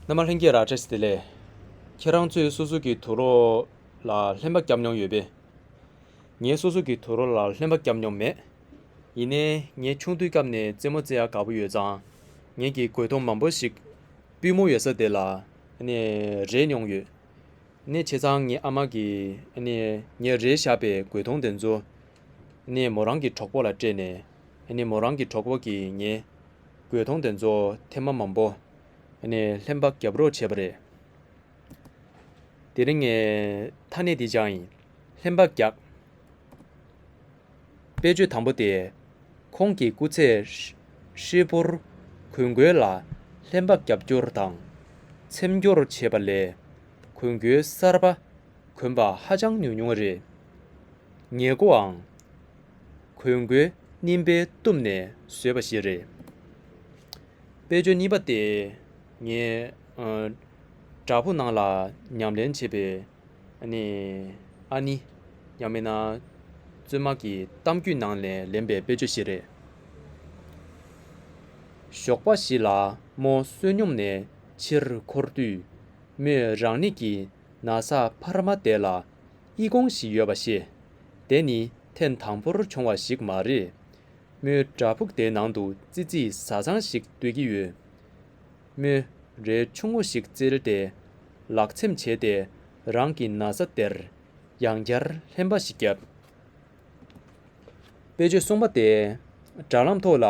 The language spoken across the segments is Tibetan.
མ་ལྷན་རྒྱས་ར་ཏྲེས་དེ་ལས། ཁྱེད་རང་ཚོས་སོ་སོ་གི་དུག་རོ་ལ་ལྷན་པ་བརྒྱབ་མྱོང་ཡོད་པས། ངས་སོ་སོ་གི་དུག་རོ་ལ་ལྷན་པ་བརྒྱབ་མྱོང་མེད། ཡིན་ནའི་ངས་ཆུང་དུས་སྐབས་ནས་རྩེད་མོ་རྩེ་ཡ་དགའ་པོ་ཡོད་ཙང། ངེད་ཀྱིས་གོས་ཐུང་མང་པོ་ཞིག་པུས་མོ་ཡོད་ས་དེ་ལ་རེག་མྱོང་ཡོད། ནས་བྱས་ཙང་ངའི་ཨ་མ་གིས་ངས་རེག་བཞག་པའི་གོས་ཐུང་དེ་ཚོ། ནས་མོ་རང་གི་གྲོགས་པོ་ལ་སྤྲད་ནས། ནས་མོ་རང་གི་གྲོགས་པོ་གིས་ངའི། གོས་ཐོང་དེ་ཚོ་ཐེ་མ་མམ་པོ། ནས་ལྷན་པ་རྒྱབ་རོགས་བྱས་པ་རེད། དེ་རིང་ངས་ཐ་སྣེ་དེ་བྱ་ཡིན། ལྷན་པ་རྒྱག། དཔེ་བརྗོད་དང་པོ་དེ། ཁོང་གི་སྐུ་ཚེ་ཧྲིལ་པོར་གོས་འགོས་ལ་ལྷན་པ་རྒྱབ་སྐྱོར་དང། འཚེམ་སྐྱོར་བྱས་པ་ལས་གོས་འགོའི་གསར་པ། གོན་པ་ཧ་ཅང་ཉུང་ཉུང་རེད། ངེས་མཁོའང། གོས་མགོའི་སྙིམ་པས་བཏུམས་ནས་བཟོས་པ་ཞིག་རེད། དཔེ་ཆུའི་སྙིམ་པ་དེ་ངའི་བྲག་ཕུག་ནང་ལ་ཉམས་ལེན་བྱེད་པའི་ཨ་ནི་ཡང་མིན་ན་བཙུན་མ་གི་གཏམ་རྒྱུད་ནང་ལས་ལེན་པའི་དཔེ་ཆུ་ཞིག་རེད། ཞོགས་པ་ཞིག་ལ་མོ་བསོད་སྙོམས་ནས་ཕྱིར་འཁོར་དུས་མོས་རང་ནི་གི། ན་བཟའ་བྷ་ར་མ་དེ་ལ་དབྱི་གོང་ཞིག་ཡོད་པ་ཤེས། དེ་ནི་ཐེངས་དང་པོར་བྱུང་བ་ཞིག་མ་རེད། མོའི་འདྲ་ཕུག་དེའི་ནང་དུ་ཙི་ཙི་བཟའ་ཚང་ཞིག་སྡོད་ཀྱི་ཡོད། མོ་རལ་ཆུང་ངུ་ཞིག་བཙིར་ཏེ་ལག་ཚེམ་བྱས་ཏེ་རང་གི་ན་བཟའ་དེར་ཡང་བསྐྱར་ལྷན་པ་ཞིག་བརྒྱབ། དཔེ་བརྗོད་སོང་པ་དེ་དྲ་ལམ་ཐོག་ལ་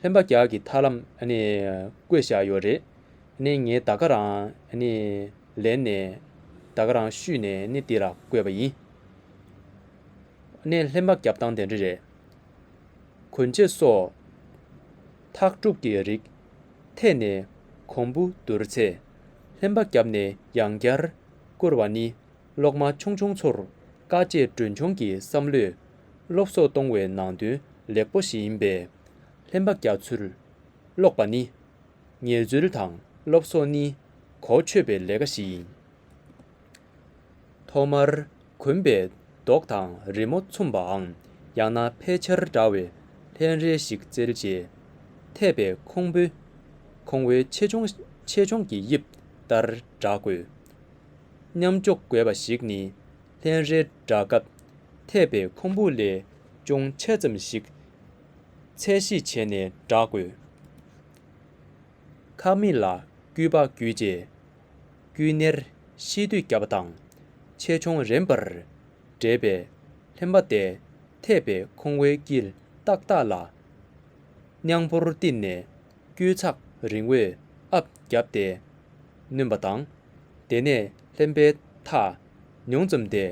ལྷན་པ་རྒྱག་གི་ཐར་ལམ་ནས་བཀོད་བཞག་ཡོད་རེད། ནས་ངས་ད་ག་རང་ལེན་ནས་ད་ག་རང་བཤུས་ནས་ནི་འདི་ལ་བཀོད་པ་ཡིན། ནས་ལྷན་པ་རྒྱབ་སྟངས་དེ་འདྲ་རེད། གོན་ཆེ་སོགས། འཐག་སྤྲུག་གི་རིགས་ཐད་ནས་གོང་བུ་བསྡུར་ཚེ་ལྷན་པ་རྒྱབ་ནས་ཡང་བསྐྱར་བསྐུར་བ་ནི་སློག་མ་ཆུང་ཆུང་ཚོར་དཀའ་སྤྱད་གྲོན་ཆུང་གི་བསམ་བློས་སློབ་གསོ་གཏོང་བའི་ནང་དོན་ལེགས་པོ་ཞིག་ཡིན་པས་ལྷན་པ་རྒྱག་ཚུལ་ཀློག་པ་ནི། ངལ་རྩོལ་དང་སློབ་གསོ་ནི་གོ་ཆོད་པའི་ལས་ཀ་ཞིག་ཡིན། ཐོག་མར་གོན་པའི་རྡོག་དང་རི་མོ་མཚུམ་པའམ་ཡང་ན་ཕལ་ཆེར་འདྲ་བའི་ལྷན་རལ་ཞིག་བཙིར་རྗེས། ཐད་པའི་ཁུང་བུ་ཁུང་བོའི་ཆེ་ཆུང་གི་དབྱིབས་ལྟར་བསྒྲག་དགོས། མཉམ་འཇོག་དགོས་པ་ཞིག་ནི་ལྷན་རལ་བསྒྲག་སྐབས་ཐད་པའི་ཁུང་བུ་ལས་ཅུང་ཆེ་ཙམ་ཞིག། ཚད་གཞི་བྱས་ནས་བསྒྲག་དགོས། ཁག་མི་ལ་སྐུལ་པ་བརྒྱུད་རྗེས་སྐུལ་སྣེར་ཤེས་བསྡུས་བརྒྱབ་པ་དང་ཆེད་སྦྱོང་རིམ་པར་འདྲེས་པས་ལྷན་པ་དེ་འཐད་པའི་ཁོང་བོའི་དཀྱིལ་ཏག་ཏག་ལ་རྙང་པོར་བསྟིམས་ནས་དཀྱུས་ཚགས་རིང་བོས་ཨབ་བརྒྱབ་སྟེ་བསྣུན་པ་དང། དེ་ནས་ལྷན་པའི་ཐག་ཉུང་ཙམ་དེ་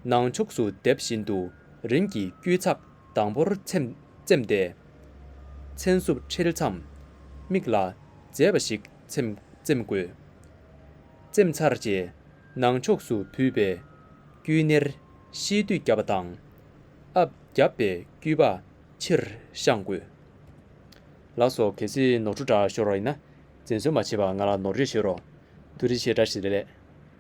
ནང་ཕྱུགས་སུ་རྡེབ་བཞིན་དུ་རིམ་གྱིས་དཀྱུས་ཚགས། དང་པོར་ཚེམས་ཏེ། མཚན་སྲུབས་ཁྲིལ་མཚམས་མིག་ལ་མཛེས་པ་ཞིག་ཚེམས་དགོས། ཚེམས་ཚར་རྗེས་ནང་ཕྱོགས་སུ་བུད་པའི་དཀྱུས་སྣེར་གཤིས་མདུད་བརྒྱབ་པ་དང། ཨབ་བརྒྱབ་པའི་དཀྱུས་པ་ཕྱིར་བཤངས་དགོས། ལགས་སོ་གལ་སྲིད་ནོར་འཁྲུལ་འདྲ་ཤོར་བ་ཡིན་ན། འཛིན་བཟོ་མ་བྱེད་པར་ང་ལ་ནོར་འཁྲུལ་བཤད་རོགས། དུ་རི་ཆེ་འདྲ་ཞིག་རེད།